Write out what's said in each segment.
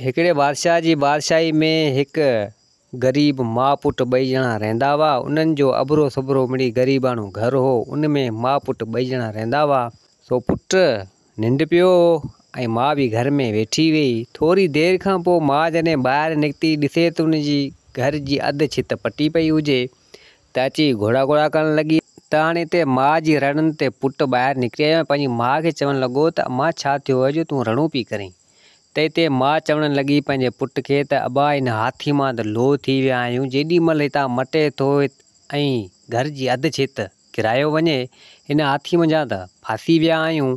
هڪڙي بادشاهه جي بادشاهي ۾ هڪ غريب ماء پٽ ٻئي ڄڻا رهندا هئا. انهن جو اڀرو سڀرو مڙئي غريباڻو گهر هو. ان ۾ ماء پٽ ٻئي ڄڻا رهندا هئا. سو پٽ ننڊ پيو هو ۽ ماء به گهر ۾ ويٺي هئي. ٿوري دير کان پوء ماء جڏهن ٻاهر نڪتي ڏسي ته ان جي گهر جي اڌ ڇت پٽي پئي هجي ته اچي گهوڙا گهوڙا ڪرڻ لڳي. ته هاڻي اتي ماء جي رڙن تي پٽ ٻاهر نڪري آيو ۽ پنهنجي ماء کي چوڻ لڳو ته امان ڇا ٿيو آهي جو تون رڙون پئي ڪرين. تنهن تي ماء چوڻ لڳي پنهنجي پٽ کي ته ابا ان هاٿي مان ته لوء ٿي ويا آهيون، جيڏي مهل هتان مٽي ٿو ۽ گهر جي اڌ ڇت ڪرايو وڃي، ان هاٿي منجهان ته ڦاسي ويا آهيون،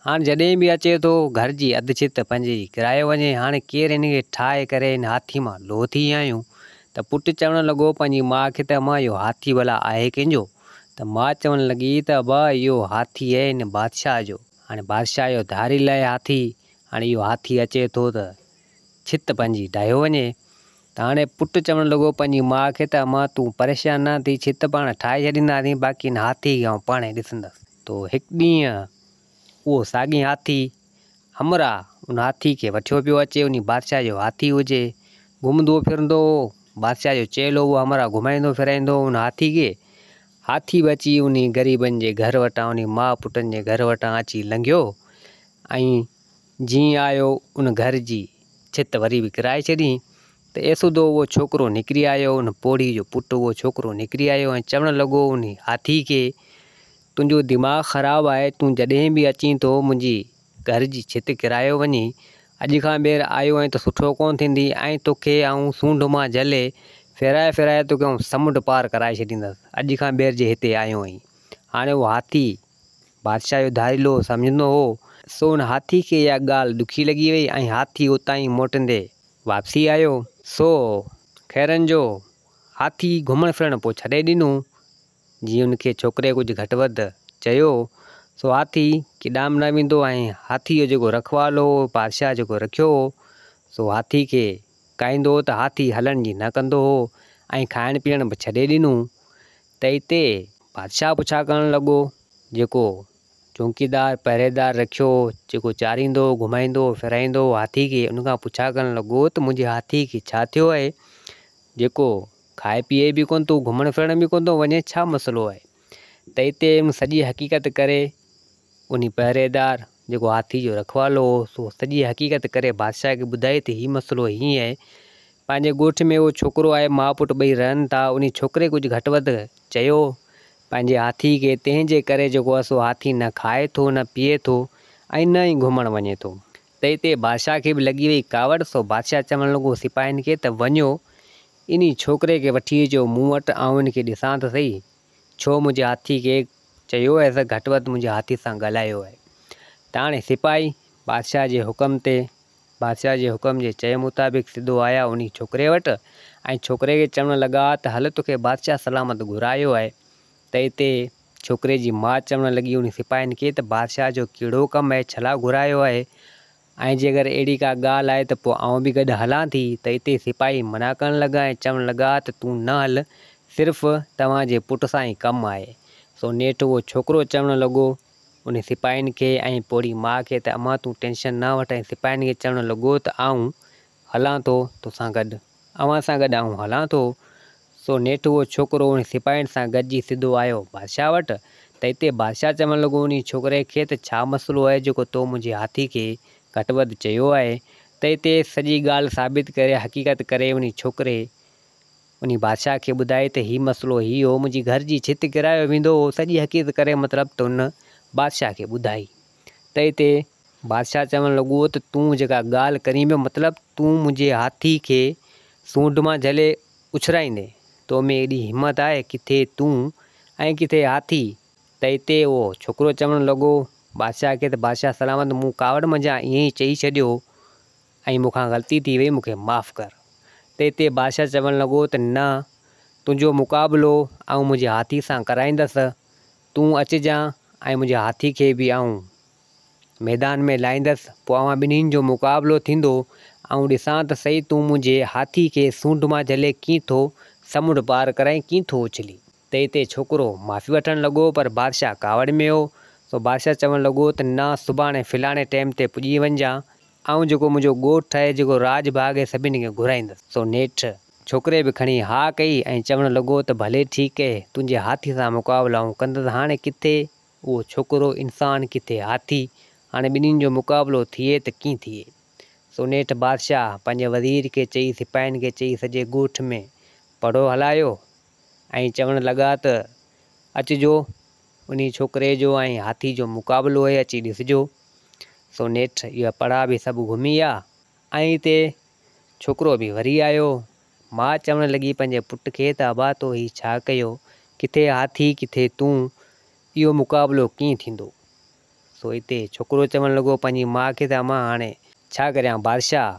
هاڻ جڏهن به اچي ٿو گهر جي اڌ ڇت پنهنجي ئي ڪرايو وڃي، هاڻي ڪير هن کي ٺاهي ڪري ان هاٿي مان لوء ٿي ويا آهيون. ته پٽ چوڻ لڳو پنهنجي ماء کي ته امان اهو هاٿي ڀلا آهي ڪنهن جو؟ ته ماء چوڻ لڳي ته ابا اهو هاٿي اهي هن بادشاهه جو. هاڻي بادشاهه اهو ڌاري لئي هاٿي، هاڻي اهو هاٿي اچي ٿو ته ڇت پنهنجي ڊاهيو وڃي. ته هاڻي پٽ چوڻ لڳو پنهنجي ماء کي ته امان تون پريشان نه ٿي، ڇت پاڻ ٺاهي ڇڏينداسين، باقي هن هاٿي کي آئون پاڻهي ڏسندس. تو هڪ ڏينهن اهو ساڳي هاٿي همراهه ان هاٿي کي وٺيو پيو اچي، انهي بادشاهه جو هاٿي هجي، گهمندو ڦرندو هو، بادشاهه جو چيل هو، اهو همراهه گهمائيندو ڦرائيندو هو ان هاٿي کي، هاٿي به اچي انهي غريبن جي گهر وٽان انهي ماء پٽن جي گهر وٽان اچي لنگهيو ۽ جيئن آيو ان گهر جي ڇت وري به ڪرائي ڇڏيئين ته ايسودو اهو ڇوڪرو نڪري آيو ان پوڙهي جو پٽ اهو ڇوڪرو نڪري آيو ۽ چوڻ لڳو انهي هاٿي کي تنهنجو دماغ خراب آهي تون جڏهن به اچين ٿو منهنجي گهر جي ڇت ڪرايو وڃي، اڄ کان ٻيهر آيو آهين ته سٺو ڪونه ٿيندي، ۽ توکي آئون سونڍ مان جهلي، ڦيرائي ڦيرائي توکي آئون سمنڊ پار ڪرائي ڇڏيندس، اڄ کان ٻيهر جي هتي آيو آهين. هاڻي اهو هاٿي، بادشاهه جو ڌاڙيلو سمجهندو هو، سو ان هاٿي کي اها ڳالهه ڏکي لڳي وئي ۽ هاٿي اتان ئي موٽندي واپسي آيو. سو خيرن جو هاٿي گهمڻ ڦرڻ پوء ڇڏي ڏنو جي ان کي ڇوڪري ڪجهه گهٽ وڌ چيو سو هاٿي ڪيڏانهن به نه ويندو ۽ هاٿي جو جيڪو رکوال هو بادشاهه جيڪو رکيو هو سو هاٿي کي ڪاهيندو هو ته هاٿي هلڻ جي نه ڪندو هو ۽ کائڻ پيئڻ به ڇڏي ڏنو ته اتي بادشاهه پڇا ڪرڻ لڳو جيڪو چونڪيدار پهريدار رکيو هو جيڪو چاريندو هو گهمائيندو هو ڦيرائيندو هو هاٿي کي ان کان پڇا ڪرڻ لڳو ته منهنجي هاٿي کي ڇا ٿيو آهي جيڪو کائي پيئي به ڪونه ٿو، گهمڻ ڦرڻ به ڪونه ٿو وڃين، ڇا مسئلو آهي؟ ته اتي هن سڄي حقيقت ڪري، انهي پهريدار جيڪو هاٿي جو رکوالو هو، سو سڄي حقيقت ڪري بادشاهه کي ٻڌائي ته هي مسئلو هيئن آهي، پنهنجي ڳوٺ ۾ اهو ڇوڪرو آهي، ماء پٽ ٻئي رهن ٿا، انهي ڇوڪري ڪجهه گهٽ وڌ چيو پنهنجي هاٿي کي، تنهن جي ڪري جيڪو آهي سو هاٿي نه کائي ٿو، نه پيئي ٿو ۽ نه ئي گهمڻ وڃي ٿو. ته اتي بادشاهه کي به لڳي وئي ڪاوڙ، سو بادشاهه چوڻ لڳو سپاهين کي ته وڃو، انهي ڇوڪري کي وٺي اچو مون وٽ، آئون هن کي ڏسان ته سهي، ڇو منهنجي هاٿي کي چيو هيس، گهٽ وڌ منهنجي هاٿي سان ڳالهايو آهي. ته هاڻي سپاهي بادشاهه جي حڪم تي، بادشاهه جي حڪم جي چئي مطابق سڌو آيا انهي ڇوڪري وٽ، ۽ ڇوڪري کي چوڻ لڳا ته هل توکي بادشاهه سلامت گهرايو آهي، ته اتي ڇوڪري جي ماء چوڻ لڳي انهي سپاهين کي ته بادشاهه جو ڪهڙو ڪم آهي ڇلا گهرايو آهي ۽ جي اگر اهڙي ڪا ڳالهه آهي ته پوء آئون به گڏ هلان ٿي ته اتي سپاهي منع ڪرڻ لڳا ۽ چوڻ لڳا ته تون نه هل صرف توهان جي پٽ سان ئي ڪم آهي سو نيٺ اهو ڇوڪرو چوڻ لڳو انهي سپاهين کي ۽ پوڙهي ماء کي ته امان تون ٽينشن نه وٺ ۽ سپاهين کي چوڻ لڳو ته آئون هلان ٿو توسان گڏ. اوهان سان گڏ آئون هلان ٿو. سو نيٺ اهو ڇوڪرو انهن سپاهين سان گڏجي سڌو آيو بادشاهه وٽ ته اتي بادشاهه چوڻ لڳو انهي ڇوڪري کي ته ڇا مسئلو آهي جيڪو تو منهنجي هاٿي کي گهٽ وڌ چيو آهي ته اتي سڄي ڳالهه ثابت ڪري حقيقت ڪري انهي ڇوڪري انهي بادشاهه کي ٻڌائي ته هي مسئلو هي هو منهنجي گهر جي ڇت ڪرايو ويندو هو سڄي حقيقت ڪري مطلب ته ان بادشاهه کي ٻڌائي. تنهن تي بادشاهه چوڻ لڳو ته تون جيڪا ڳالهه ڪرين پيو مطلب تون منهنجي هاٿي کي سونڍ مان جهلي اڇلائيندين، تو ۾ ايڏي همت آهي، ڪٿي تون ۽ ڪٿي هاٿي، تنهن تي اهو ڇوڪرو چوڻ لڳو بادشاهه کي ته بادشاهه سلامت مون ڪاوڙ منجهان ائين ئي چئي ڇڏيو ۽ مون کان غلطي ٿي وئي مون کي معاف ڪر، تنهن تي بادشاهه چوڻ لڳو ته نه تنهنجو مقابلو آئون منهنجي هاٿي سان ڪرائيندس، تون اچجان ۽ منهنجي هاٿي کي به آئون ميدان ۾ لاهيندس پوء اوهان ٻنهين جو مقابلو ٿيندو آئون ڏسان ته سهي تون منهنجي هاٿي کي سونڍ مان جهلي ڪيئن ٿو سمنڊ پار ڪرائين ڪيئن ٿو اڇلي. تي تي ڇوڪرو معافي وٺڻ لڳو پر بادشاهه ڪاوڙ ۾ هو سو بادشاهه چوڻ لڳو ته نه سڀاڻي فلاڻي ٽيم تي پڄي وڃجان آئون جيڪو منهنجو ڳوٺ آهي جيڪو راڄ ڀاڳ آهي سڀني کي گهرائيندس سو نيٺ ڇوڪري به کڻي ها ڪئي ۽ چوڻ لڳو ته ڀلي ٺيڪ اهي تنهنجي هاٿي سان مقابلائون ڪندس هاڻي ڪٿي اهو ڇوڪرو انسان ڪٿي هاٿي هاڻي ٻنهين جو مقابلو ٿئي ته ڪين ٿئي سو نيٺ بادشاهه پنهنجي وزير کي چئي سپاهين کي چئي سڄي ڳوٺ ۾ پڙهو هلايو ۽ چوڻ لڳا ته اچجو انهي ڇوڪري جو ۽ هاٿي جو مقابلو اهي اچي ڏسجو سو نيٺ اهي پڙها به سڀ گهمي آيا ۽ ائين تي ڇوڪرو به وري آيو. ماء چوڻ لڳي پنهنجي پٽ کي ته ابا تو هي ڇا ڪيو؟ ڪٿي هاٿي ڪٿي تون، اهو مقابلو ڪيئن ٿيندو؟ سو اتي ڇوڪرو چوڻ لڳو پنهنجي ماء کي ته امان هاڻي ڇا ڪريان بادشاهه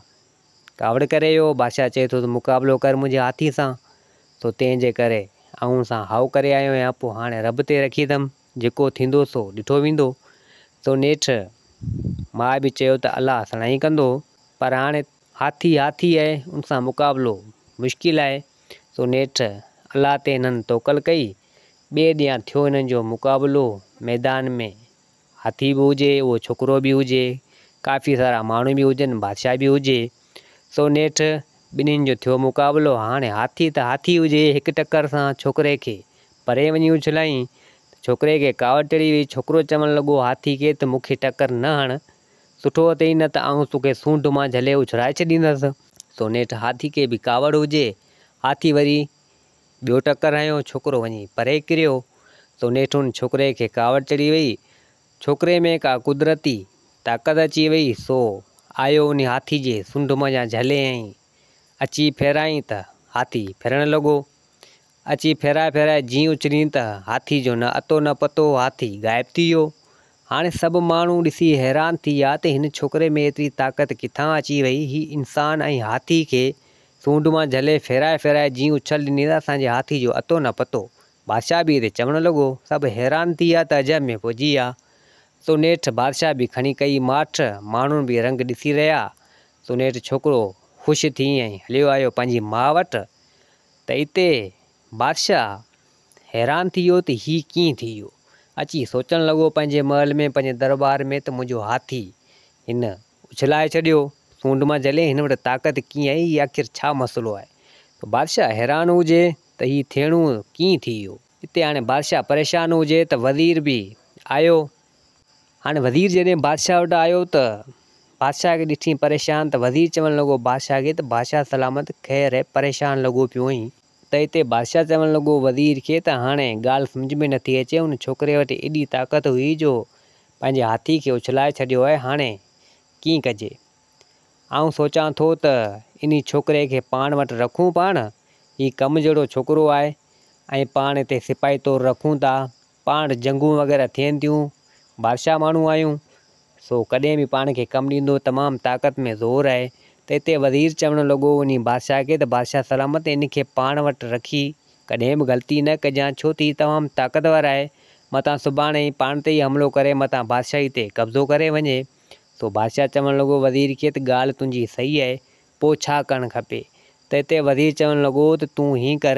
ڪاوڙ ڪري اهو بادشاهه چئي ٿو ته مقابلو ڪر منهنجي هاٿي سان سو تنهن جي ڪري آئون سان هائو ڪري آيو آهيان پوء هاڻي رب تي رکي اٿم. جيڪو ٿيندو سو ڏٺو ويندو. سو نيٺ ماء به چيو ته الله سڻائي ڪندو. پر هاڻي هاٿي هاٿي آهي ان سان مقابلو مشڪل آهي. سو نيٺ الله تي هنن توڪل ڪئي. ٻئي ڏينهن ٿيو هنن جو مقابلو ميدان ۾ هاٿي به هجي اهو ڇوڪرو به هجي ڪافي سارا ماڻهو به هجن بادشاهه به هجي. سو نيٺ ٻنهين جو ٿيو مقابلو هاڻي هاٿي ته هاٿي هجي هڪ ٽڪر سان ڇوڪري کي پري وڃي اڇلايائين ته ڇوڪري کي ڪاوڙ چڙهي وئي، ڇوڪرو چوڻ لڳو، هاٿي کي ته مون کي ٽڪر نه هڻ، سٺو اٿئي نه ته آئون توکي سونڍ مان جهلي اڇلائي ڇڏيندس. سو نيٺ هاٿي کي به ڪاوڙ هجي، هاٿي وري ٻيو ٽڪر هنيو، ڇوڪرو وڃي پري ڪريو، سو نيٺ ان ڇوڪري کي ڪاوڙ چڙهي وئي، ڇوڪري ۾ ڪا قدرتي طاقت اچي وئي، سو آيو انهي هاٿي جي سونڍ منجهان جهليائين، اچي ڦيرايائين ته هاٿي ڦرڻ لڳو، اچي ڦيرائي ڦيرائي جيئن اچرين ته هاٿي جو نه اتو نه پتو هو هاٿي غائب ٿي ويو. هاڻي سڀ ماڻهو ڏسي حيران ٿي ويا ته هن ڇوڪري ۾ ايتري طاقت ڪٿان اچي وئي هي انسان ۽ هاٿي کي سونڊ مان جهلي ڦيرائي ڦيرائي جيئن اڇل ڏني ته اسان جي هاٿي جو اتو نه پتو. بادشاهه به هتي چوڻ لڳو. سڀ حيران ٿي ويا ته عجب ۾ پئجي ويا. سو نيٺ بادشاهه به کڻي ڪئي ماٺ ماڻهن به رنگ ڏسي رهيا سو نيٺ ڇوڪرو خوش ٿي ۽ هليو آيو پنهنجي ماء وٽ. ته اتي بادشاهه حيران ٿي ويو ته هي ڪيئن ٿي ويو. اچي سوچڻ لڳو پنهنجي محل ۾ پنهنجي درٻار ۾ ته منهنجو هاٿي هن اڇلائي ڇڏيو سونڊ مان جهلي هن وٽ طاقت ڪيئن آئي هي آخر ڇا مسئلو آهي ته بادشاهه حيران هجي ته هي ٿيڻو ڪيئن ٿي ويو. اتي هاڻي بادشاهه پريشان هجي ته وزير به آيو. هاڻي وزير جڏهن بادشاهه وٽ آيو ته بادشاهه کي ڏٺيئي پريشان ته وزير چوڻ لڳو بادشاهه کي ته بادشاهه سلامت خير هي پريشان لڳو پيو آهين؟ ته اتي بادشاهه چوڻ لڳو وزير کي ته هاڻي ڳالهه سمجهه ۾ نٿي اچي ان ڇوڪري وٽ ايڏي طاقت هئي جو پنهنجي هاٿي کي اڇلائي ڇڏيو آهي هاڻي ڪيئن ڪجي؟ آئون سوچان ٿو ته انهي ڇوڪري کي پاڻ وٽ رکون پاڻ هي ڪم جهڙو ڇوڪرو آهي ۽ پاڻ هتي سپاهي طور رکون ٿا پاڻ جنگون وغيره ٿين ٿيون، بادشاهه ماڻهو آهيون، سو ڪڏهن به پاڻ کي ڪم ڏيندو، تمام طاقت ۾ زور آهي، ته هتي وزير چوڻ لڳو انهي بادشاهه کي ته بادشاهه سلامت ان کي پاڻ وٽ رکي ڪڏهن به غلطي نه ڪجان، ڇو ته هي تمام طاقتور آهي، متان سڀاڻي هي پاڻ تي ئي حملو ڪري متان بادشاهي تي قبضو ڪري وڃي، سو بادشاهه چوڻ لڳو وزير کي ته ڳالهه تنهنجي صحيح آهي، پوء ڇا ڪرڻ کپي، ته هتي وزير چوڻ لڳو ته تون هيئن ڪر،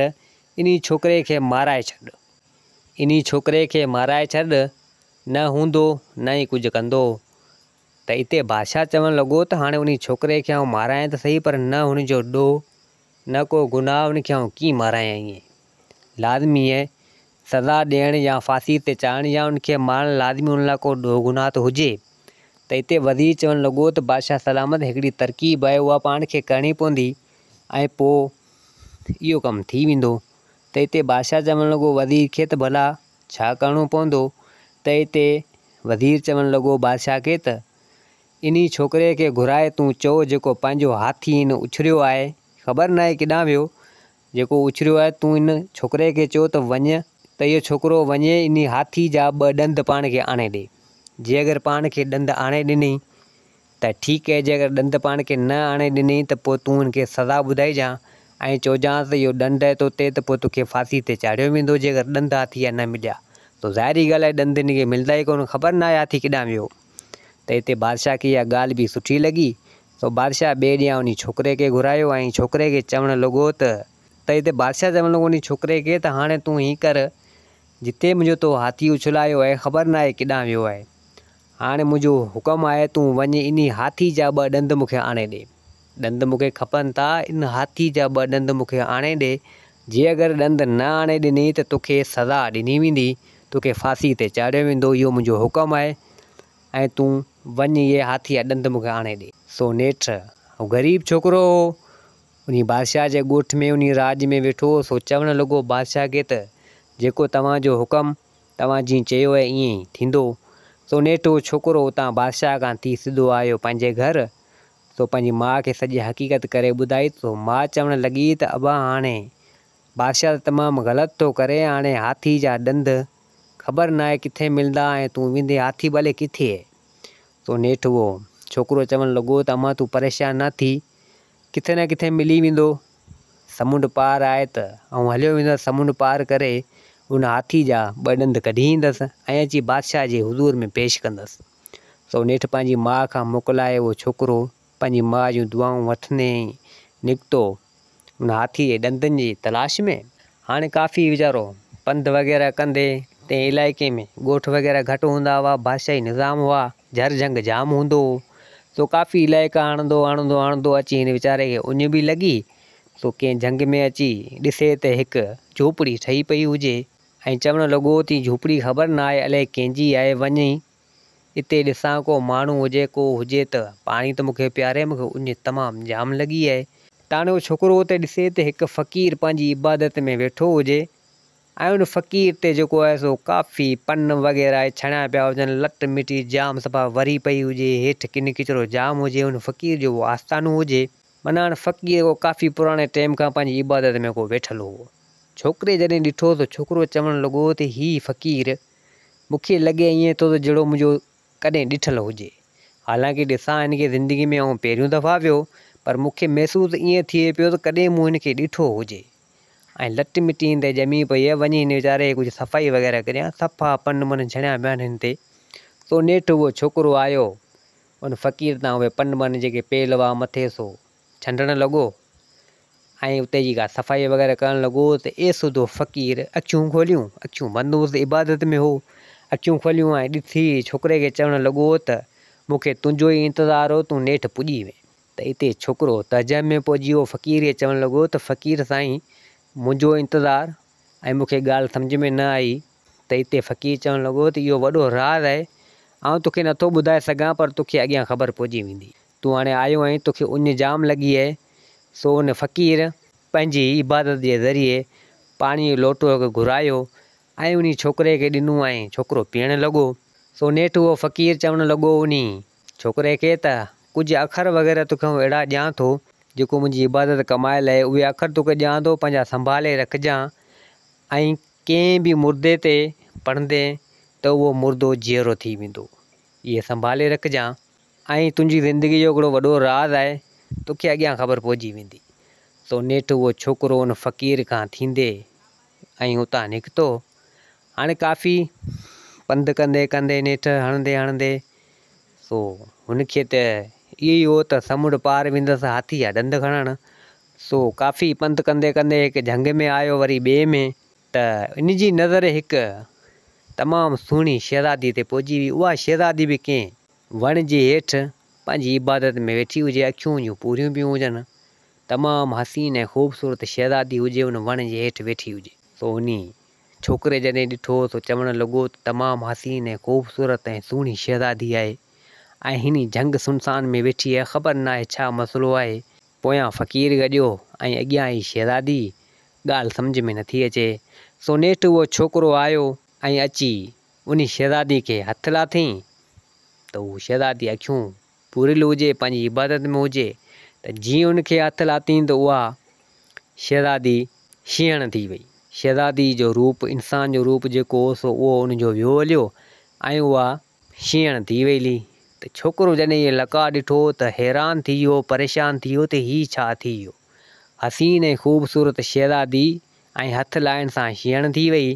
انهي ڇوڪري کي مارائي ڇڏ. انهي ڇوڪري کي مارائي ڇڏ، نه هوندو نه ئي ڪجهه ڪندو. ته اتي بادشاهه چوڻ لڳو ته هاڻي انهي ڇوڪري کي آئون مارايان ته سهي پر نه هن جو ڏوهه نه ڪو گناهه ان کي آئون ڪيئن مارايان ائين لازمي ائين سزا ڏيڻ يا ڦاسي تي چاڙهڻ يا ان کي مارڻ لازمي ان لاء ڪو ڏوهه گناهه ته هجي ته اتي وزير چوڻ لڳو ته بادشاهه سلامت هڪڙي ترڪيب آهي اها پاڻ کي ڪرڻي پوندي ۽ پوء اهو ڪم ٿي ويندو ته اتي بادشاهه چوڻ لڳو وزير کي ته ڀلا ڇا ڪرڻو پوندو ته اتي وزير چوڻ لڳو بادشاهه کي ته انهي ڇوڪري کي گهرائي تون چئو جيڪو پنهنجو هاٿي هن اڇريو آهي خبر ناهي ڪيڏانهن ويو جيڪو اڇريو آهي تون ان ڇوڪري کي چئو ته وڃ ته اهو ڇوڪرو وڃي انهي هاٿي جا ٻه ڏند پاڻ کي آڻي ڏي جي اگر پاڻ کي ڏند آڻي ڏني ته ٺيڪ اهي جيڪر ڏند پاڻ کي نه آڻي ڏنئي ته پوء تون هن کي سزا ٻڌائجان ۽ چئجانس ته اهو ڏند اهي تو تي ته پوء تو کي ڦاسي تي چاڙهيو ويندو جيڪر ڏند هاٿي جا نه مليا تو ظاهري ڳالهه آهي ڏند هن کي ملندا ئي ڪونه خبر ناهي هاٿي ڪيڏانهن ويو ته هتي بادشاهه کي اها ڳالهه به سٺي لڳي سو بادشاهه ٻئي ڏينهن انهي ڇوڪري کي گهرايو ۽ ڇوڪري کي چوڻ لڳو ته ته هتي بادشاهه چوڻ لڳو انهي ڇوڪري کي ته هاڻي تون هيئن ڪر جتي منهنجو تو هاٿي اڇلايو اهي خبر ناهي ڪيڏانهن ويو آهي هاڻي منهنجو حڪم آهي تون وڃ انهي هاٿي جا ٻه ڏند مون کي آڻي ڏي. ڏند مون کي کپن ٿا، ان هاٿي جا ٻه ڏند مون کي آڻي ڏي. جي اگر ڏند نه آڻي ڏني ته توکي سزا ڏني ويندي، توکي ڦاسي تي چاڙهيو ويندو، اهو منهنجو حڪم آهي ۽ تون وڃ اهي هاٿي جا ڏند مون کي آڻي ڏي. سو نيٺ هو غريب ڇوڪرو هو، انهي بادشاهه جي ڳوٺ ۾ انهي راڄ ۾ ويٺو هو، سو چوڻ لڳو بادشاهه کي ته جيڪو توهان جو حڪم توهان جيئن چيو آهي ائين ئي ٿيندو. سو نيٺ اهو ڇوڪرو اتان بادشاهه کان ٿي سڌو آيو پنهنجي گهر. سو پنهنجي ماء کي سڄي حقيقت ڪري ٻڌائي سو ماء چوڻ لڳي ته ابا هاڻي بادشاهه ته تمام غلط ٿو ڪري هاڻي هاٿي جا ڏند خبر ناهي ڪٿي ملندا ۽ تون ويندي هاٿي ڀلي ڪٿي. سو نيٺ اهو ڇوڪرو چوڻ لڳو ته امان تون پريشان نه ٿي. ڪٿي نه ڪٿي ملي ويندو. سمنڊ پار آهي ته آئون هليو ويندس سمنڊ پار ڪري ان هاٿي جا ٻه ڏند ڪڍي ايندس ۽ اچي بادشاهه جي حضور ۾ پيش ڪندس. سو نيٺ پنهنجي ماء کان موڪلائي اهو ڇوڪرو پنهنجي ماء جون دعائون وٺندي نڪتو ان هاٿي جي ڏندن جي تلاش ۾. هاڻي ڪافي ويچارو پنڌ وغيره ڪندي تنهن علائقي ۾ ڳوٺ وغيره گهٽ هوندا هئا، بادشاهي نظام هئا. جھر جھنگ جام ھوندو ھو، سو ڪافي علائقا آڻندو آڻندو آڻندو اچي ھن ويچاري کي اڃ به لڳي، سو ڪنھن جھنگ ۾ اچي ڏسي ته ھڪ جھوپڙي ٺھي پئي ھجي ۽ چوڻ لڳو ته ھي جھوپڙي خبر نه آھي الائي ڪنھن جي آھي، وڃي اتي ڏسان ڪو ماڻھو ھجي، ڪو ھجي ته پاڻي ته مون کي پياري، مون کي اڃ تمام جام لڳي آھي. تاڻيو ڇوڪرو اتي ڏسي ته ھڪ فقير پنھنجي عبادت ۾ ويٺو ھجي. ۽ ان فقير تي جيڪو آهي سو ڪافي، پن وغيره اهي ڇڻيا پيا هجن، لٽ مٽي جام صفا وري پئي هجي، هيٺ ڪن ڪچرو جام هجي، ان فقير جو اهو آستانو هجي. معنيٰ ان فقير ڪو ڪافي پراڻي ٽيم کان پنهنجي عبادت ۾ ڪو ويٺل هو. ڇوڪري جڏهن ڏٺو ته ڇوڪرو چوڻ لڳو ته هي فقير مون کي لڳي ائين ٿو ته جهڙو منهنجو ڪڏهن ڏٺل هجي. حالانڪه ڏسان هن کي زندگي ۾ آئون پهريون دفعا پيو پر مون کي محسوس ائين ٿئي پيو ته ڪڏهن مون هن کي ڏٺو هجي. ۽ لٽ مٽي هن تي ڄمي پئي آهي، وڃي هن ويچاري جي ڪجهه صفائي وغيره ڪريان، صفا پن من ڇڻيا پيا آهن هن تي، سو نيٺ اهو ڇوڪرو آيو، ان فقير تان اهي پن من جيڪي پيل هئا مٿي سو ڇنڊڻ لڳو، ۽ اتي جي ڪا صفائي وغيره ڪرڻ لڳو ته ايسڌو فقير اکيون کوليون، اکيون بند هوس عبادت ۾ هو، اکيون کوليون ۽ ڏسي ڇوڪري کي چوڻ لڳو ته مون کي تنهنجو ئي انتظار هو، تون نيٺ پڄي وئين. ته اتي ڇوڪرو تهجم ۾ پئجي ويو. فقير هي چوڻ لڳو ته فقير سائين منهنجو انتظار ۽ مون کي ڳالهه سمجهه ۾ نه آئي ته اتي فقير چوڻ لڳو ته اهو وڏو راز آهي آئون توکي نه ٿو ٻڌائي سگهان پر توکي اڳيان خبر پئجي ويندي. تون هاڻي آيو آهين توکي اڃ جام لڳي اهي. سو ان فقير پنهنجي عبادت جي ذريعي پاڻي جو لوٽو هڪ گهرايو ۽ انهي ڇوڪري کي ڏنو ۽ ڇوڪرو پيئڻ لڳو. سو نيٺ اهو فقير چوڻ لڳو انهي ڇوڪري کي ته ڪجهه اکر وغيره توکي آئون اهڙا ڏيان ٿو، جيڪو منهنجي عبادت ڪمائي لهي، اهي اکر توکي ڏيان ٿو، پنهنجا سنڀالي رکجان ۽ ڪنهن به مردي تي پڙهندين ته اهو مردو جيئرو ٿي ويندو، اهي سنڀالي رکجان ۽ تنهنجي زندگي جو هڪڙو وڏو راز آهي، توکي اڳيان خبر پئجي ويندي. سو نيٺ اهو ڇوڪرو ان فقير کان ٿيندي ۽ اتان نڪتو. هاڻي ڪافي پنڌ ڪندي ڪندي نيٺ هڻندي هڻندي سو هن کي ته اهو ئي هو ته سمنڊ پار ويندس هاٿي جا ڏند کڻڻ. سو ڪافي پنڌ ڪندي ڪندي هڪ جهنگ ۾ آيو وري ٻئي ۾ ته ان جي نظر هڪ تمام سهڻي شهزاديء تي پئجي وئي. اها شهزادي به ڪنهن وڻ جي هيٺ پنهنجي عبادت ۾ ويٺي هجي، اکيون جون پورهيون پيون هجن تمام حسين ۽ خوبصورت شهزادي هجي ان وڻ جي هيٺ ويٺي هجي. سو انهي ڇوڪري جڏهن ڏٺو سو چوڻ لڳو ته تمام حسين ۽ خوبصورت ۽ سهڻي شهزادي آهي ۽ هن جهنگ سنسان ۾ ويٺي آهي خبر ناهي ڇا مسئلو آهي. پويان فقير گڏيو ۽ اڳيان هي شهزادي، ڳالهه سمجهه ۾ نٿي اچي. سو نيٺ اهو ڇوڪرو آيو ۽ اچي انهي شهزادي کي هٿ لاٿيئين ته هو شهزادي اکيون پوريل هجي پنهنجي عبادت ۾ هجي ته جيئن ان کي هٿ لاتين ته اها شهزادي شينهڻ ٿي وئي. شهزادي جو روپ انسان جو روپ جيڪو هو سو اهو ان جو ويو هليو ۽ اها شينهڻ ٿي وئي لي ته ڇوڪرو جڏهن هيء لقاء ڏٺو ته حيران ٿي ويو پريشان ٿي ويو ته هي ڇا ٿي ويو. حسين ۽ خوبصورت شهزادي ۽ هٿ لائڻ سان شينهڻ ٿي وئي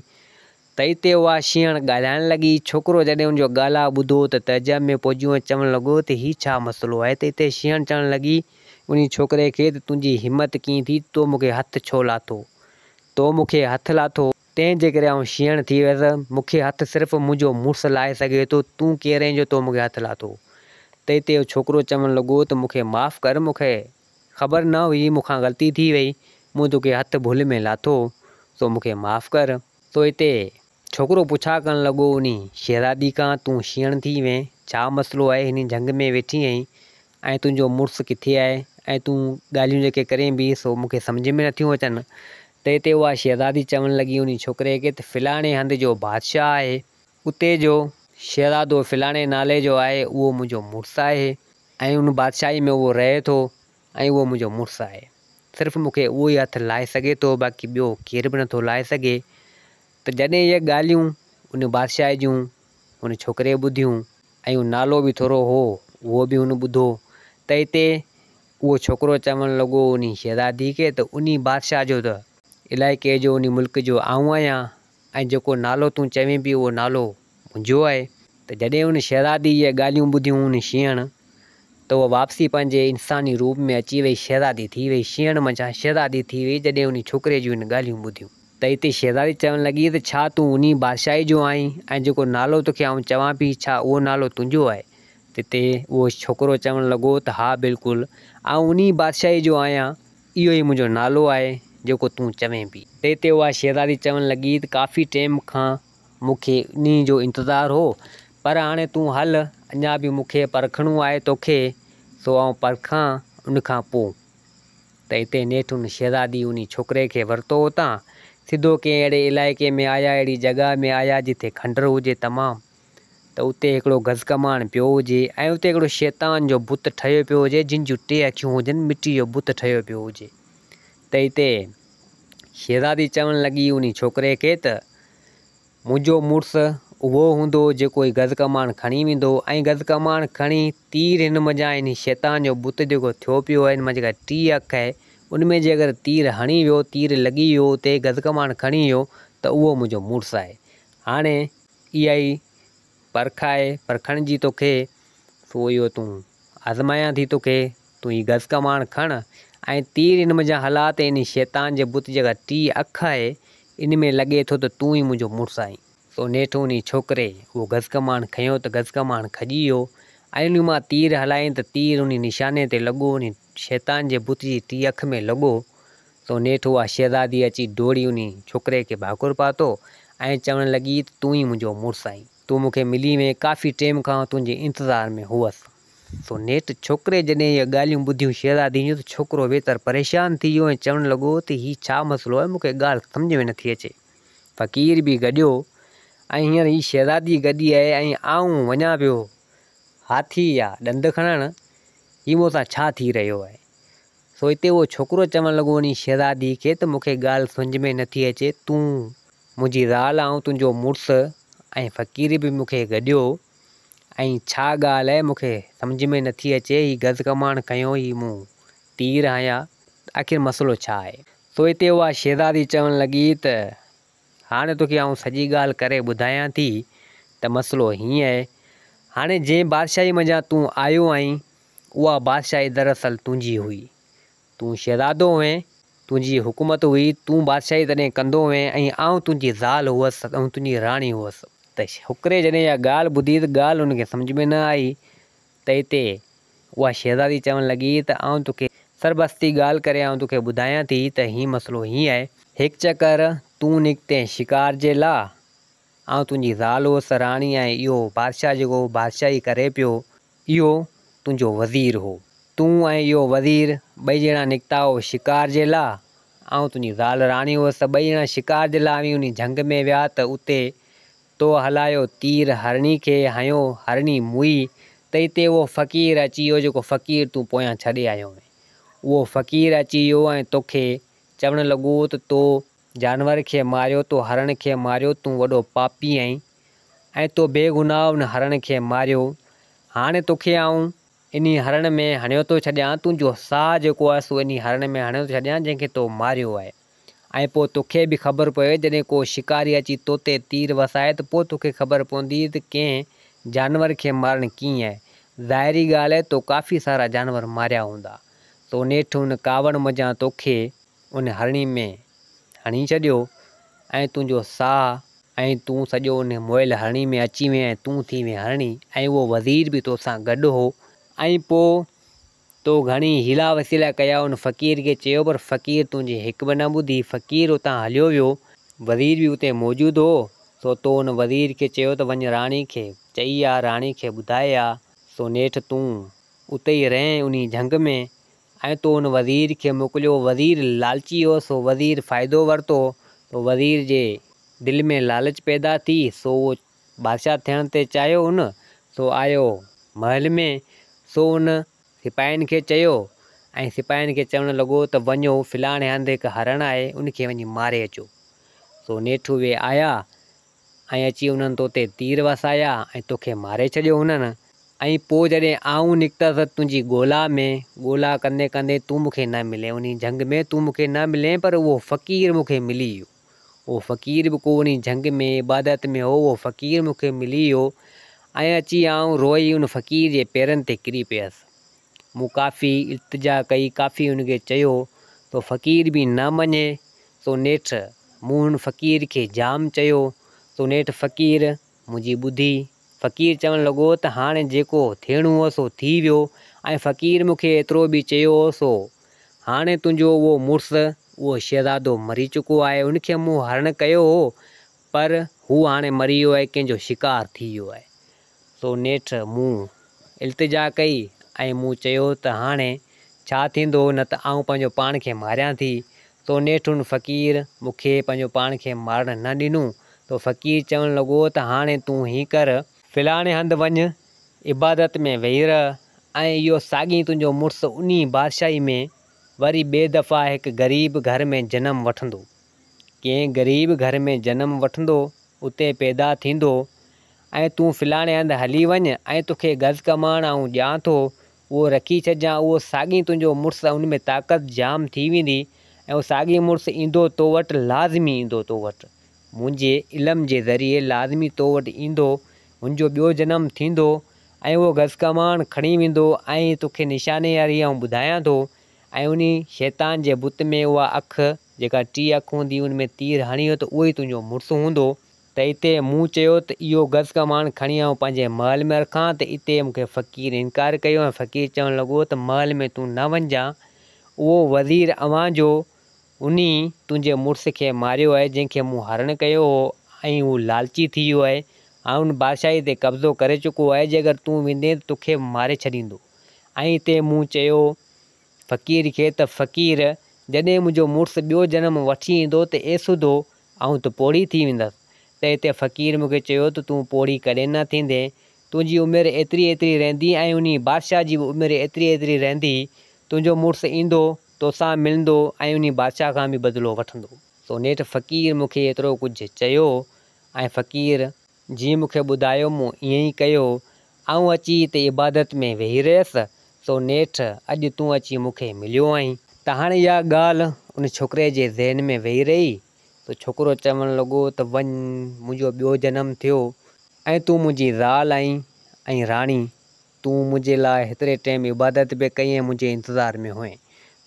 تئي تي اها شينهڻ ڳالهائڻ لڳي. ڇوڪرو جڏهن ان جو ڳالهاء ٻڌو ته تعجب ۾ پئجيو ۽ چوڻ لڳو ته هي ڇا مسئلو آهي؟ تئي تي شينهڻ چوڻ لڳي انهي ڇوڪري کي ته تنهنجي همت ڪيئن ٿي ته تو مون کي هٿ ڇو لاٿو؟ تو مون کي هٿ لاٿو؟ تنهن جي ڪري آئون شينهڻ ٿي ويس. مون کي هٿ صرف منهنجو مڙس لائي سگهي ٿو. تون ڪير آهين جو تو مون کي هٿ لاٿو؟ تئي تي اهو ڇوڪرو چوڻ لڳو ته مون کي معاف ڪر، مون کي خبر نه هئي، مون کان غلطي ٿي وئي، مون تو کي هٿ ڀل ۾ لاٿو، سو مون کي معاف ڪر. سو اتي ڇوڪرو پڇا ڪرڻ لڳو انهي شهزادي کان تون شيڻ ٿي وئين ڇا مسئلو آهي هني جهنگ ۾ ويٺي آهين ۽ تنهنجو مڙس ڪٿي آهي ۽ تون ڳالهيون جيڪي ڪرين بي سو مون کي سمجهه ۾ نٿيون اچن ته اتي اها شهزادي چوڻ لڳي انهي ڇوڪري کي ته فلاڻي هنڌ جو بادشاهه آهي اتي جو شهزادو فلاڻي نالي جو آهي اهو منهنجو مڙس آهي ۽ ان بادشاهي ۾ اهو رهي ٿو ۽ اهو منهنجو مڙس آهي. صرف مون کي اهو ئي هٿ لاهي سگهي ٿو، باقي ٻيو ڪير به نٿو لاهي سگهي. ته جڏهن اهي ڳالهيون ان بادشاهه جون ان ڇوڪريء ٻڌيون ۽ نالو به ٿورو هو اهو به هن ٻڌو ته هتي اهو ڇوڪرو چوڻ لڳو انهي شهزادي کي ته انهي بادشاهه جو ته علائقي جو انهي ملڪ جو آئون آهيان ۽ جيڪو نالو تون چوين پيو اهو نالو منهنجو آهي. ته جڏهن ان شهزادي اهي ڳالهيون ٻڌيون ان شينهڻ ته اها واپسي پنهنجي انساني روپ ۾ اچي ويئي شهزادي ٿي ويئي شينهڻ منجهان شهزادي ٿي ويئي جڏهن انهي ڇوڪري جون ان ڳالهيون ٻڌيون. ته اتي شهزادي چوڻ لڳي ته ڇا تون انهي بادشاهي جو آهين ۽ جيڪو نالو توکي آئون چوان پي ڇا اهو نالو تنهنجو آهي ته اتي اهو ڇوڪرو چوڻ لڳو ته ها بلڪل آئون انهي بادشاهي جو آهيان اهو ئي منهنجو نالو آهي، جيڪو تون چوين پئي. تنهن تي اها شهزادي چوڻ لڳي ته ڪافي ٽيم کان مون کي انهيء جو انتظار هو، پر هاڻي تون هل، اڃا به مون کي پرکڻو آهي توکي، سو آئون پرکان، ان کان پوء. ته اتي نيٺ ان شهزادي انهي ڇوڪري کي ورتو اتان، سڌو ڪنهن اهڙي علائقي ۾ آيا، اهڙي جڳهه ۾ آيا، جتي کنڊر هجي تمام. ته اتي هڪڙو گزڪماڻ پيو هجي ۽ اتي هڪڙو شيطان جو بت ٺهيو پيو هجي جن جون ٽي اکيون هجن مٽي جو بت ٺهيو پيو هجي ته هتي شهزادي چوڻ لڳي انهي ڇوڪري کي ته منهنجو مڙس اهو هوندو جيڪو هي گزڪماڻ کڻي ويندو ۽ گزڪماڻ کڻي تير هن منجهان انهي شيطان جو بت جيڪو ٿيو پيو هي هن مان جيڪا ٽي اک هي ان ۾ جي اگر تير هڻي ويو تير لڳي ويو اتي گزڪماڻ کڻي ويو ته اهو منهنجو مڙس آهي هاڻي اها ئي پرک آهي پرکڻ جي توکي، سو اهو تون آزمايان ٿي توکي، تون هي گز ڪماڻ کڻ ۽ تير ان منجهان هلاء ته انهي شيطان جي بت جيڪا ٽي اک آهي، ان ۾ لڳي ٿو ته تون ئي منهنجو مڙس آهين. سو نيٺ انهي ڇوڪري اهو گز ڪماڻ کنيو ته گز ڪماڻ کڄي ويو ۽ ان مان تير هلايائين ته تير انهي نشاني تي لڳو، انهي شيطان جي بت جي ٽي اک ۾ لڳو، تو نيٺ اها شهزادي اچي ڊوڙي انهي ڇوڪري کي ڀاڪر پاتو ۽ چوڻ لڳي ته تون ئي منهنجو مڙس آهين. تون مون کي ملي وئين، ڪافي ٽيم کان آئون تنهنجي انتظار ۾ هئس. تو نيٺ ڇوڪري جڏهن اهي ڳالهيون ٻڌيون شهزادي جون ته ڇوڪرو ويتر پريشان ٿي ويو ۽ چوڻ لڳو ته هي ڇا مسئلو آهي مون کي ڳالهه سمجهه ۾ نٿي اچي. فقير به گڏيو ۽ هينئر هي شهزادي گڏي آهي ۽ آئون وڃان پيو هاٿي يا ڏند کڻڻ، هي مون سان ڇا ٿي رهيو آهي. سو اتي اهو ڇوڪرو چوڻ لڳو انهي شهزادي کي ته مون کي ڳالهه سمجهه ۾ نٿي اچي، تون منهنجي زال آئون تنهنجو مڙس ۽ فقير به مون کي گڏيو ۽ ڇا ڳالهه اهي مون کي سمجهه ۾ نٿي اچي، هي گز ڪماڻ کنيو هي مون تير هنيا آخر مسئلو ڇا آهي؟ سو اتي اها شهزادي چوڻ لڳي ته هاڻي توکي آئون سڄي ڳالهه ڪري ٻڌايان ٿي ته مسئلو هيئن اهي، هاڻي جنهن بادشاهي منجهان تون آيو آهين اها بادشاهي دراصل تنهنجي هئي. تون شهزادو هئين، تنهنجي حڪومت هئي، تون بادشاهي تڏهن ڪندو هئين ۽ آئون تنهنجي زال هئس ۽ تنهنجي راڻي هئس. ته ڇوڪري جڏهن اها ڳالهه ٻڌي ته ڳالهه هن کي سمجهه ۾ نه آئي ته اتي اها شهزادي چوڻ لڳي ته آئون توکي سربستي ڳالهه ڪري آئون توکي ٻڌايان ٿي ته هي مسئلو هيئن آهي، هڪ چڪر تون نڪتين شڪار جي لاء، آئون تنهنجي زال هئس، راڻي ۽ اهو بادشاهه جيڪو بادشاهي ڪري پيو، اهو تنهنجو وزير هو. تون ۽ اهو وزير ٻئي ڄڻا نڪتا هئو شڪار جي لا. آئون تنهنجي زال راڻي هوس ته ٻئي ڄڻا شڪار جي لا اوهين انهي جهنگ ۾ ويا ته اتي تو هلايو تير هرڻي کي هنيو هرڻي موئي ته اتي اهو فقير اچي ويو جيڪو فقير تون پويان ڇڏي آيو هئين. اهو فقير اچي ويو ۽ توکي چوڻ لڳو ته تو جانور کي ماريو تو هرڻ کي ماريو تون وڏو پاپي آهين ۽ تو بي گناهه ان هرڻ کي ماريو هاڻي توکي آئون انهي هرڻ ۾ هڻيو ٿو ڇڏيان تنهنجو ساهه جيڪو آهي سو انهي هرڻ ۾ هڻيو ٿو ڇڏيان جنهن کي تو ماريو آهي ۽ پوء توکي به خبر پوي جڏهن ڪو شڪاري اچي توتي تير وسائي ته پوء توکي خبر پوندي ته ڪنهن جانور کي مارڻ ڪيئن آهي ظاهري ڳالهه آهي تو ڪافي سارا جانور ماريا هوندا سو نيٺ ان ڪاوڙ منجهان توکي ان هرڻي ۾ هڻي ڇڏيو ۽ تنهنجو ساهه ۽ تون سڄو ان موئل هرڻي ۾ اچي وئين ۽ تون ٿي وئين هرڻي ۽ اهو وزير به تو سان گڏ هو ۽ پوء تو گهڻي حيلا وسيلا ڪيا ان فقير کي چيو پر فقير تنهنجي هڪ به نه ٻڌي فقير اتان هليو ويو وزير به اتي موجود هو سو تو ان وزير کي چيو ته وڃ راڻي کي چئي آ راڻي کي ٻڌائي آ سو نيٺ تون اتي ئي رهين انهي جهنگ ۾ ۽ تو ان وزير کي موڪليو. وزير لالچي هو، سو وزير فائدو ورتو. تو وزير جي دل ۾ لالچ پيدا ٿي، سو اهو بادشاهه ٿيڻ تي چاهيو ان. سو آيو محل ۾، سو ان سپاهين کي چيو ۽ سپاهين کي چوڻ لڳو ته وڃو فلاڻي هنڌ هڪ هرڻ آهي، ان کي وڃي ماري اچو. سو نيٺ اهي آيا ۽ اچي انهن تو تي تير وسايا ۽ توکي ماري ڇڏيو هنن، ۽ پوء جڏهن آئون نڪتس تنهنجي ڳولا ۾، ڳولا ڪندي ڪندي تون مون کي نه ملين، انهي جهنگ ۾ تون مون کي نه ملين، پر اهو فقير مون کي ملي ويو، اهو فقير به ڪو انهي جهنگ ۾ عبادت ۾ هو، اهو فقير مون کي ملي ويو، ۽ اچي آئون روئي ان فقير جي پيرن تي ڪري پيس. مون ڪافي التجا ڪئي، ڪافي هن کي چيو تو فقير به نه مڃي سو نيٺ مون هن فقير کي جام چيو سو نيٺ فقير منهنجي ٻڌي. فقير چوڻ لڳو ته هاڻي جيڪو ٿيڻو هو سو ٿي ويو ۽ فقير مون کي ايترو به چيو هو سو هاڻي تنهنجو اهو مڙس اهو شهزادو مري چڪو آهي هن کي مون هرڻ ڪيو هو پر هو هاڻي مري ويو آهي ڪنهن جو شڪار ٿي ويو آهي تو نيٺ مون التجا ڪئي ۽ مون چيو ته هاڻي ڇا ٿيندو نه ته آئون پنهنجو پاڻ کي ماريان ٿي. تو نيٺ ان فقير مون کي پنهنجو پاڻ کي مارڻ نه ڏنو. تو فقير چوڻ لڳو ته هاڻي تون هين ڪر. فلاڻي هنڌ وڃ، عبادت ۾ ويهي رهه ۽ اهو ساڳين تنهنجو مڙس انهي بادشاهي ۾ وري ٻي دفعا هڪ غريب گهر ۾ جنم وٺندو. ڪنهن غريب گهر ۾ جنم وٺندو، اتي پيدا ٿيندو ۽ تون فلاڻي هنڌ هلي وڃ ۽ توکي گز ڪماڻ آئون ڏيان ٿو، اهو رکي ڇڏجان، اهو ساڳين تنهنجو مڙس ۽ ان ۾ طاقت جام ٿي ويندي ۽ اهو ساڳين مڙس ايندو تو وٽ، لازمي ايندو تو وٽ، منهنجي علم جي ذريعي لازمي تو وٽ ايندو، هن جو ٻيو جنم ٿيندو ۽ اهو گز ڪماڻ کڻي ويندو ۽ توکي نشاني واري آئون ٻڌايان ٿو ۽ انهي شيطان جي بت ۾ اها اک، جيڪا ٽيئي اک هوندي، ان ۾ تير هڻي هو ته اهو ئي تنهنجو مڙس هوندو. ته اتي مون چيو ته اهو گز ڪماڻ کڻي آئون پنهنجي محل ۾ رکان ته اتي مون کي فقير انڪار ڪيو ۽ فقير چوڻ لڳو ته محل ۾ تون نه وڃجان، اهو وزير اوهان جو انهي تنهنجي مڙس کي ماريو آهي، جنهن کي مون هرڻ ڪيو هو ۽ هو لالچي ٿي ويو آهي، هاڻ بادشاهي تي قبضو ڪري چڪو آهي، جي اگر تون ويندين ته توکي به ماري ڇڏيندو. ۽ اتي مون چيو فقير کي ته فقير، جڏهن منهنجو مڙس ٻيو جنم وٺي ايندو ته اي سڌو، آئون ته پوڙهي ٿي ويندس. تنهن تي فقير مون کي چيو ته تون پوڙهي ڪڏهن نه ٿيندين، تنهنجي عمر ايتري ايتري رهندي ۽ انهي بادشاهه جي به عمر ايتري ايتري رهندي، تنهنجو مڙس ايندو، توسان ملندو ۽ انهي بادشاهه کان به بدلو وٺندو. سو نيٺ فقير مون کي ايترو ڪجهه چيو ۽ فقير جيئن مون کي ٻڌايو مون ائين ئي ڪيو. آئون اچي اتي عبادت ۾ ويهي رهيس، سو نيٺ اڄ تون اچي مون کي مليو آهين. ته هاڻي اها ڳالهه ان ڇوڪري جي ذهن ۾ ويهي رهي، سو ڇوڪرو چوڻ لڳو ته وڃ، منهنجو ٻيو جنم ٿيو ۽ تون منهنجي زال آهين ۽ راڻي، تون منهنجي لاء هيتري ٽيم عبادت به ڪئي ۽ منهنجي انتظار ۾ هئين.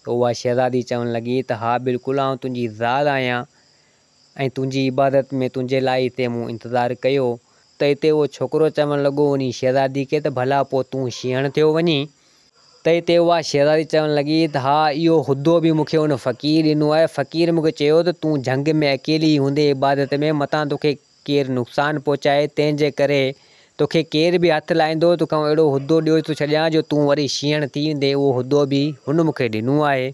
ته اها شهزادي چوڻ لڳي ته ها بلڪل آئون تنهنجي زال آهيان ۽ تنهنجي عبادت ۾ تنهنجي لاء هتي مون انتظار ڪيو ته هتي اهو ڇوڪرو چوڻ لڳو انهي شهزادي کي ته ڀلا پوء تون شينهڻ ٿيو وڃين؟ ته هتي اها شهزادي چوڻ لڳي ته ها اهو حدو به مون کي ان فقير ڏنو آهي فقير مون کي چيو ته تون جهنگ ۾ اڪيلي ئي هوندين عبادت ۾ متان توکي ڪير نقصان پهچائي تنهن جي ڪري توکي ڪير به هٿ لائيندو توکان اهڙو حدو ڏيو ٿو ڇڏيان جو تون وري شينهڻ ٿي ويندين اهو حدو به هن مون کي ڏنو آهي.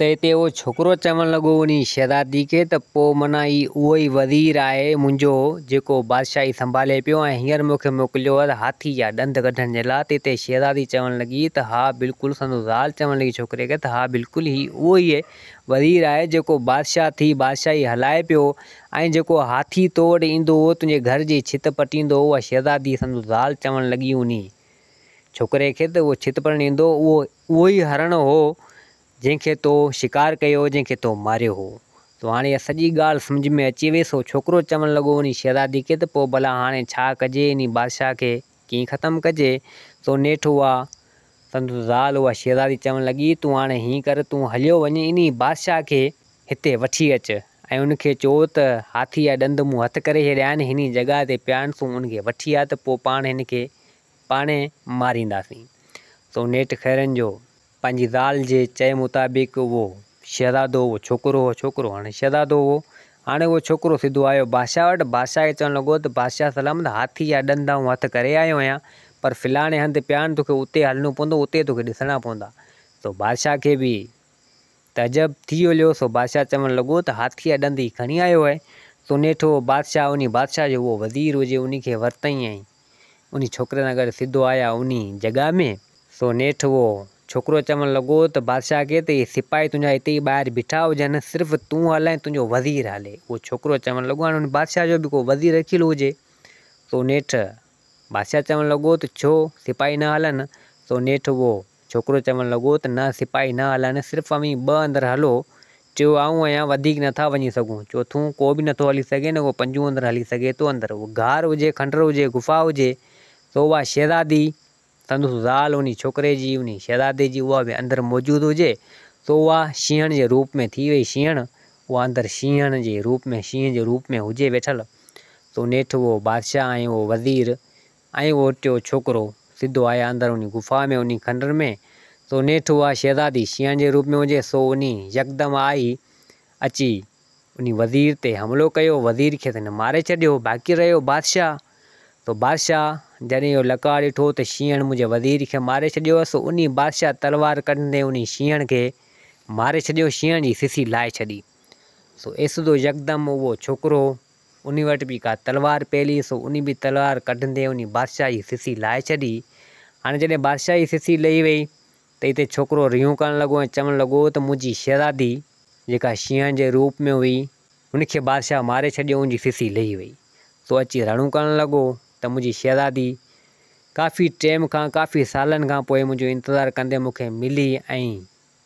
ته اتي اهو ڇوڪرو چوڻ لڳو انهي شهزادي کي ته پوء معنيٰ هي اهو ئي وزير آهي منهنجو جيڪو بادشاهي سنڀالي پيو ۽ هينئر مون کي موڪليو اٿ هاٿي جا ڏند ڪڍڻ جي لاء ته اتي شهزادي چوڻ لڳي ته ها بلڪل سندس زال چوڻ لڳي ڇوڪري کي ته ها بلڪل هي اهو ئي وزير آهي جيڪو بادشاهه ٿي بادشاهي هلائي پيو ۽ جيڪو هاٿي تو وٽ ايندو هو تنهنجي گهر جي ڇت پٽيندو هو اها شهزادي سندس زال چوڻ لڳي انهي ڇوڪري کي ته اهو ڇت پٽڻ ايندو اهو اهو ئي هرڻ هو، جنهن کي تو شڪار ڪيو هو، جنهن کي تو ماريو هو. تو هاڻي اها سڄي ڳالهه سمجهه ۾ اچي ويس. اهو ڇوڪرو چوڻ لڳو انهي شهزادي کي ته پوء ڀلا هاڻي ڇا ڪجي؟ انهي بادشاهه کي ڪيئن ختم ڪجي؟ سو نيٺ اها، سندس زال، اها شهزادي چوڻ لڳي، تون هاڻي هيئن ڪر، تون هليو وڃ انهي بادشاهه کي هتي وٺي اچ ۽ ان کي چئو ته هاٿي جا ڏند مون هٿ ڪري ڇڏيا آهن، هني جڳهه تي پيا آهن، تون ان کي وٺي آ ته پوء پاڻ هن کي پاڻهي مارينداسين. سو نيٺ خيرن جو پنهنجي زال جي چئي مطابق اهو شهزادو اهو ڇوڪرو اهو ڇوڪرو هاڻي شهزادو هو. هاڻي اهو ڇوڪرو سڌو آيو بادشاهه وٽ بادشاهه کي چوڻ لڳو ته بادشاهه سلامت هاٿي جا ڏند آئون هٿ ڪري آيو آهيان پر فلاڻي هنڌ پيا آهن توکي اتي هلڻو پوندو اتي توکي ڏسڻا پوندا. سو بادشاهه کي به تعجب ٿي هليو سو بادشاهه چوڻ لڳو ته هاٿي جا ڏند هي کڻي آيو آهي. سو نيٺ اهو بادشاهه انهي بادشاهه جو اهو وزير هجي انهي کي ورتئين ۽ انھي ڇوڪري سان گڏ سڌو آيا انھي جڳھه ۾. سو نيٺ اھو ڇوڪرو چوڻ لڳو ته بادشاھه کي ته اھي سپاھي تنھنجا ھتي ئي ٻاھر بيٺا ھجن صرف تون ھل ۽ تنھنجو وزير ھلي. اھو ڇوڪرو چوڻ لڳو ھاڻي انھي بادشاھه جو به ڪو وزير رکيل ھجي. سو نيٺ بادشاھه چوڻ لڳو ته ڇو سپاھي نه ھلن. سو نيٺ اھو. ڇوڪرو چوڻ لڳو ته نه سپاهي نه هلن، صرف اوهين ٻه اندر هلو، ٽيو آئون آهيان، وڌيڪ نه ٿا وڃي سگهون، چوٿون ڪو به نه ٿو هلي سگهي نه ڪو پنجون اندر هلي سگهي ٿو، اندر اهو غار هجي، کنڊر هجي، غفا هجي، سو اها شهزادي، سندس زال، انهي ڇوڪري جي، انهي شهزادي جي، اها به اندر موجود هجي، سو اها شينهڻ جي روپ ۾ ٿي وئي شينهڻ، اها اندر شينهڻ جي روپ ۾، شينهن جي روپ ۾ هجي ويٺل، سو نيٺ اهو بادشاهه ۽ اهو وزير، ائين اهو ٽيون ڇوڪرو سڌو آهي اندروني غفا ۾ انهي کنڊر ۾، سو نيٺ اها شهزادي شينهن جي روپ ۾ هجي، سو انهي يڪدم آئي اچي انهي وزير تي حملو ڪيو، وزير کي ته هن ماري ڇڏيو، باقي رهيو بادشاهه، سو بادشاهه جڏهن اهو لقاء ڏٺو ته شينهڻ منهنجي وزير کي ماري ڇڏيو، سو انهي بادشاهه تلوار ڪڍندي انهي شينهڻ کي ماري ڇڏيو، شينهڻ جي سسي لاهي ڇڏي، سو ايسدو يڪدم اهو ڇوڪرو انهي وٽ به ڪا تلوار پيل هئي سو انهي به تلوار ڪڍندي انهي بادشاهه جي سسي لاهي ڇڏي. هاڻي جڏهن بادشاهه جي سسي لهي وئي ته اتي ڇوڪرو ريون ڪرڻ لڳو ۽ چوڻ لڳو ته منهنجي شهزادي جيڪا شينهن جي روپ ۾ هئي هن کي بادشاهه ماري ڇڏيو ان جي سسي لهي وئي سو اچي رڙون ڪرڻ لڳو ته منهنجي شهزادي ڪافي ٽيم کان ڪافي سالن کان پوء منهنجو انتظار ڪندي مون کي ملي ۽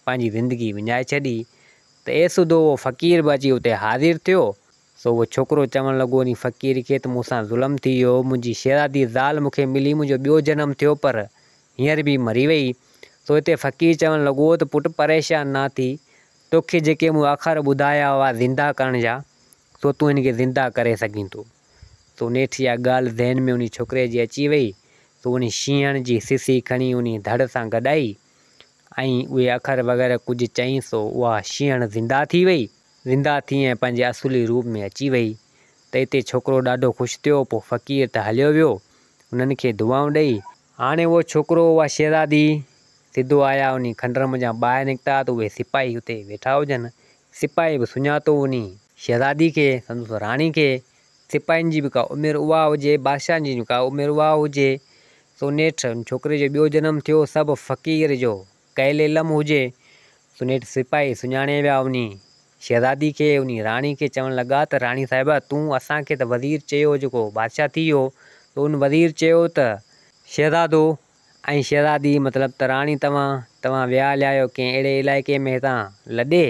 پنهنجي زندگي وڃائي ڇڏي ته اي سڌو اهو فقير به اچي اتي حاضر ٿيو. سو اهو ڇوڪرو چوڻ لڳو انهي فقير کي ته مون سان ظلم ٿي ويو، منهنجي شهزادي زال مون کي ملي، منهنجو ٻيو جنم ٿيو پر هينئر به مري وئي. سو اتي فقير چوڻ لڳو ته پٽ پريشان نه ٿي، توکي جيڪي مون آخر ٻڌايا هئا زنده ڪرڻ جا، سو تون هن کي زنده ڪري سگهين ٿو. سو نيٺ اها ڳالهه ذهن ۾ انهي ڇوڪري جي اچي وئي، سو انهي شينهڻ جي سسي کڻي انهي ڌڙ سان گڏائي، ۽ اهي اکر وغيره ڪجهه چئين سو اها شينهڻ زنده ٿي وئي، زنده ٿي ۽ پنهنجي اصولي روپ ۾ اچي وئي ته اتي ڇوڪرو ڏاڍو خوش ٿيو پوء فقير ته هليو ويو هنن کي دعائون ڏئي، هاڻي اهو ڇوڪرو اها شهزادي سڌو آيا انهي کنڊر منجهان ٻاهر نڪتا ته اهي سپاهي اتي ويٺا هجن سپاهي به سڃاتو انهي شهزادي کي سندس راڻي کي سپاهين جي به ڪا عمر اها هجي، بادشاهن جي به ڪا عمر اها هجي، سو نيٺ ان ڇوڪري جو ٻيو جنم ٿيو، سا به فقير جو ڪيل علم هجي، سو نيٺ سپاهي سڃاڻي ويا انهي شهزادي کي، انهي راڻي کي چوڻ لڳا ته راڻي صاحبه تون اسان کي ته وزير چيو جيڪو بادشاهه ٿي ويو، سو ان وزير چيو ته، شهزادو ۽ شهزادي مطلب ته راڻي توهان، توهان ويا هليا آهيو ڪنهن اهڙي علائقي ۾ هتان لڏي،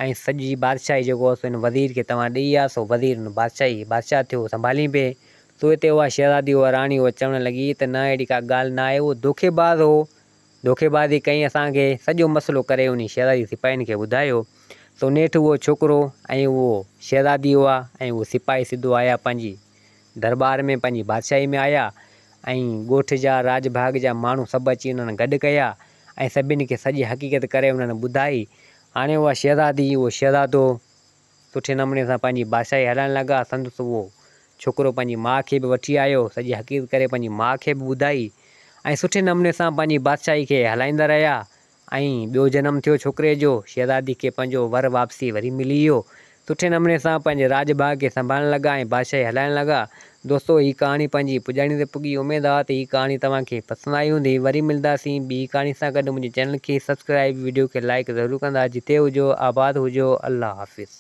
۽ سڄي بادشاهي جيڪو هو سو هن وزير کي توهان ڏيئي آيا سو وزير هن بادشاهي بادشاهه ٿيو سنڀالين پئي سو هتي اها شهزادي اها راڻي اها چوڻ لڳي ته نه اهڙي ڪا ڳالهه نه آهي اهو دوکي باز هو دوکي بازي ڪئي اسان کي سڄو مسئلو ڪري انهي شهزادي سپاهين کي ٻڌايو سو نيٺ اهو ڇوڪرو ۽ اهو شهزادي اها ۽ اهو سپاهي سڌو آيا پنهنجي درٻار ۾ پنهنجي بادشاهي ۾ آيا ۽ ڳوٺ جا راڄ ڀاڳ جا ماڻهو سڀ اچي انهن گڏ ڪيا ۽ سڀين کي سڄي حقيقت ڪري انهن ٻڌائي هاڻي اها شهزادي، اهو شهزادو سٺي نموني سان پنهنجي بادشاهي هلائڻ لڳا. سندس اهو ڇوڪرو پنهنجي ماء کي به وٺي آيو. سڄي حقيقت ڪري پنهنجي ماء کي به ٻڌائي ۽ سٺي نموني سان پنهنجي بادشاهي کي هلائيندا رهيا. ائين ٻيو جنم ٿيو ڇوڪري جو. شهزادي کي پنهنجو ور واپسي وري ملي ويو. سٺي نموني سان پنهنجي راڄ ڀاڳ کي سنڀالڻ لڳا ۽ بادشاهي هلائڻ لڳا. دوستو هي ڪهاڻي پنهنجي پڄاڻي تي پڳي اميد آ ته هي ڪهاڻي توهان کي پسند آئي هوندي وري ملداسين ٻي ڪهاڻي سان گڏ منهنجي چينل کي سبسڪرائيب ويڊيو کي لائيڪ ضرور ڪندا جتي هجو آباد هجو الله حافظ.